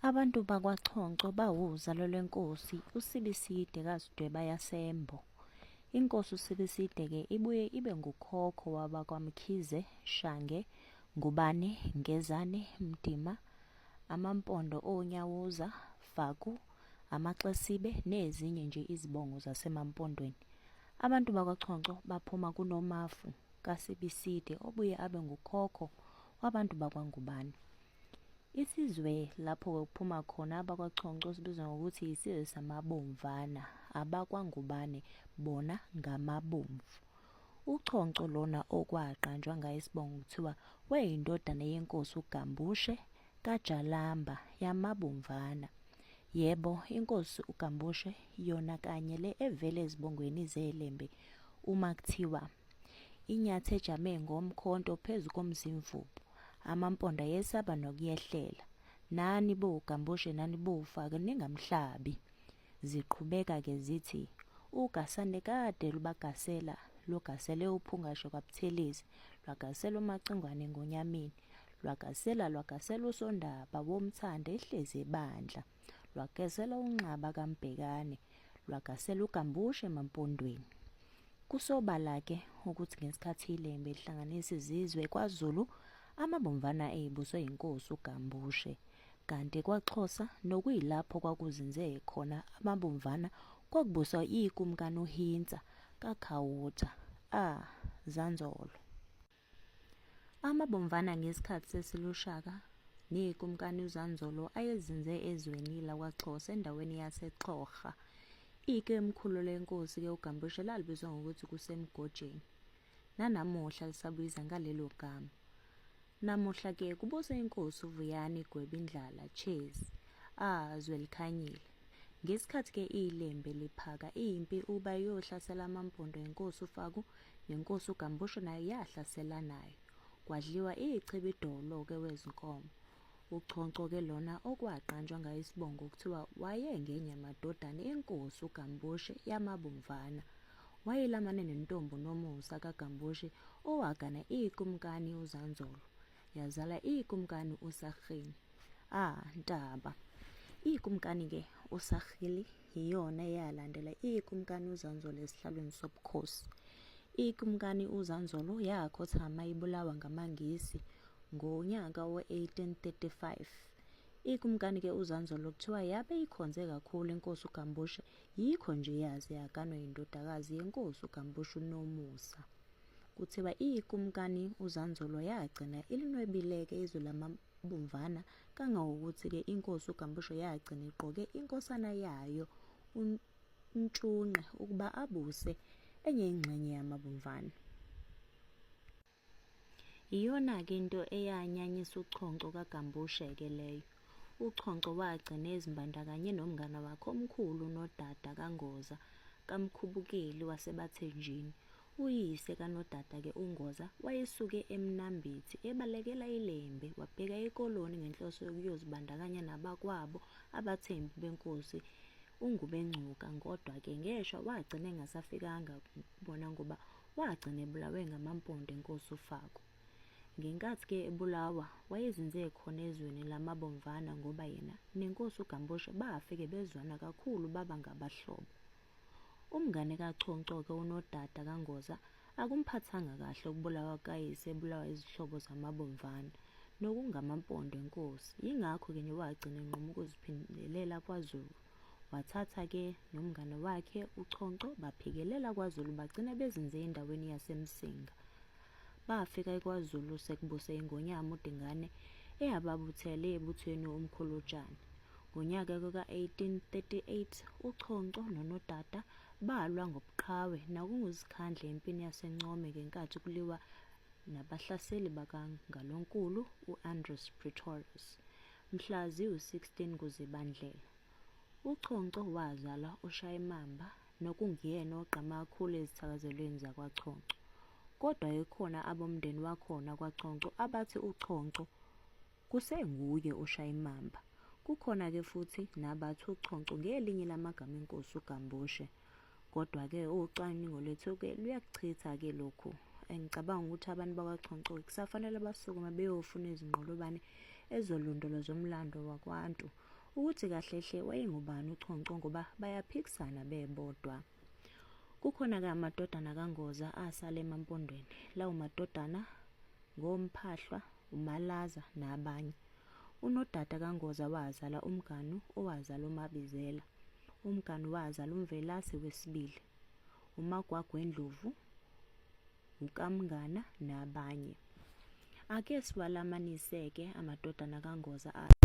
Abantu bakwaChonco bawuzalo lwenkosi uSibiside kaZidweba yaseMbo. Inkosi uSibiside-ke ibuye ibe ngukhokho wabakwaMkhize, Shange, Ngubane, Ngezane, Mdima, Amampondo oNyawuza, Faku, Amaxesibe nezinye nje izibongo zaseMampondweni. Abantu bakwaChonco baphuma kuNomafu kaSibiside obuye abe ngukhokho wabantu bakwaNgubane. Isizwe lapho kuphuma khona abakwaChonco sibizwa ngokuthi isizwe samaBomvana, abakwaNgubane bona ngamaBomvu. UChonco lona okwaqanjwa ngaye isibongo kuthiwa wayeyindodana yenkosi uGambushe kaJalamba yamaBomvana. Yebo, inkosi uGambushe yona kanye le evela ezibongweni zeLembe uma kuthiwa Inyathi ejame ngomkhonto phezu komzimvubu. Amamponda yesaba nokuyehlela. Nani bo Gambushe nani bo Ufake ningamhlabi. Ziqhubeka ke zithi ugasane kade lubagasela lugasele uphungashe kwaButhelezi lwagasela uMacingwane ngonyamini lwagasela lwagasela usondaba womthanda ehlezi ebandla. lwagezela unxaba kaMbhekane lwagasela uGambushe emampondweni kusobala ke ukuthi ngesikhathi ilembe lihlanganisa izizwe kwaZulu amabomvana eyibuswe inkosi uGambushe kanti kwaXhosa nokuyilapho kwakuzinze khona amabomvana kwakubuswa ikumkani uHintsa kaKhawutha a ah, Zanzolo Amabomvana ngesikhathi sesilushaka neyikumkani uZanzolo ayezinze ezweni lakwaXhosa endaweni yaseXhorha. Ike emkhulu lenkosi ke uGambushe lalibizwa ngokuthi kusemgojeni. Nanamuhla lisabiza ngalelo gama. Namuhla ke kubusa inkosi uVuyani Gwebindlala Chezi. Ah zwelikhanyile. Ngesikhathi ke ilembe liphaka impi uba iyohlasela amampondo enkosi uFaku Yenkosi uGambushe nayo yahlasela nayo. Kwadliwa ichibi idolo-ke wezinkomo. Uchonco-ke lona okwaqanjwa ngayo isibongo kuthiwa wayengenye yamadodana enkosi uGambushe yamabomvana. Wayelamane nentombi uNomusa kaGambushe owagana ikumkani uZanzolo, yazala ikumkani uSarhini. Ah, Ntaba! Ikumkani-ke uSarhili yiyona eyalandela ikumkani uzanzolo esihlalweni sobukhosi ikumkani uzanzolo yakhothama ibulawa ngamangisi ngonyaka we-1835 ikumkani ke uzanzolo kuthiwa yabe ikhonze kakhulu inkosi ugambushe yikho nje yaze yaganwa yindodakazi yenkosi ugambushe unomusa kuthiwa iyikumkani uzanzolo yagcina ilinwebileke izwe lamabomvana Kangangokuthi-ke inkosi uGambushe yagcina igqoke inkosana yayo uNtshunqe ukuba abuse enye ingxenye yamabomvana. Iyona-ke into eyanyanyisa uchonco kaGambushe-ke leyo. Uchonco wagcina ezimbandakanye nomngane wakhe omkhulu unodada kaNgoza kaMkhubukeli waseBathenjini, Uyise kanodada-ke uNgoza wayesuke eMnambithi ebalekela iLembe wabheka eKoloni ngenhloso yokuyozibandakanya nabakwabo abathembu benkosi uNgubengcuka kodwa-ke ngeshwa wagcina engasafikanga kubona ngoba wagcina ebulawe ngamampondo enkosi uFaku. Ngenkathi-ke ebulawa wayezinze khona ezweni lamaBomvana ngoba yena nenkosi uGambushe bafike bezwana kakhulu baba ngabahlobo. Umngane kaChoncoke unodada kaNgoza akumphathanga kahle ukubulawa kukayise ebulawa izihlobo zamabomvana nokungamampondo enkosi yingakho ke nje wagcina enquma ukuziphindelela kwaZulu wathatha ke nomngane wakhe uChonco baphikelela kwaZulu bagcina bezinze endaweni yaseMsinga bafika ekwaZulu sekubuse ingonyama uDingane eyababuthele ebuthweni uMkhulutshane Ngonyaka kuka-1838 uChonco noNodada balwa ngobuqhawe nakunguzikhandle empini yaseNcome ngenkathi kuliwa nabahlaseli bakaNgalonkulu u-Andries Pretorius. Mhla ziwu-16 kuZibandlela uChonco wazala uShayimamba nokunguyena ogqama kakhulu ezithakazelweni zakwaChonco. Kodwa ekhona abomndeni wakhona kwaChonco abathi uChonco Kusenguye oshayimamba. Kukhona ke futhi nabathi uchonco ngelinye lamagama enkosi uGambushe. Kodwa ke ucwaningo lethu ke luyakuchitha ke lokhu. Engicabanga ukuthi abantu bakwaChonco kusafanele basukume beyofuna izinqolobane ezolondoloza umlando wakwaNtu ukuthi kahle hle wayengubani uChonco ngoba bayaphikisana bebodwa. Kukhona-ke amadodana kaNgoza asale emampondweni. Lawo madodana ngoMphahlwa, uMalaza nabanye. Unodada kaNgoza wazala uMganu owazala uMabizela. UMganu wazala uMvelase wesibili, uMagwagwendlovu, uKaMngana nabanye. Ake siwalamanise-ke amadodana kaNgoza athi.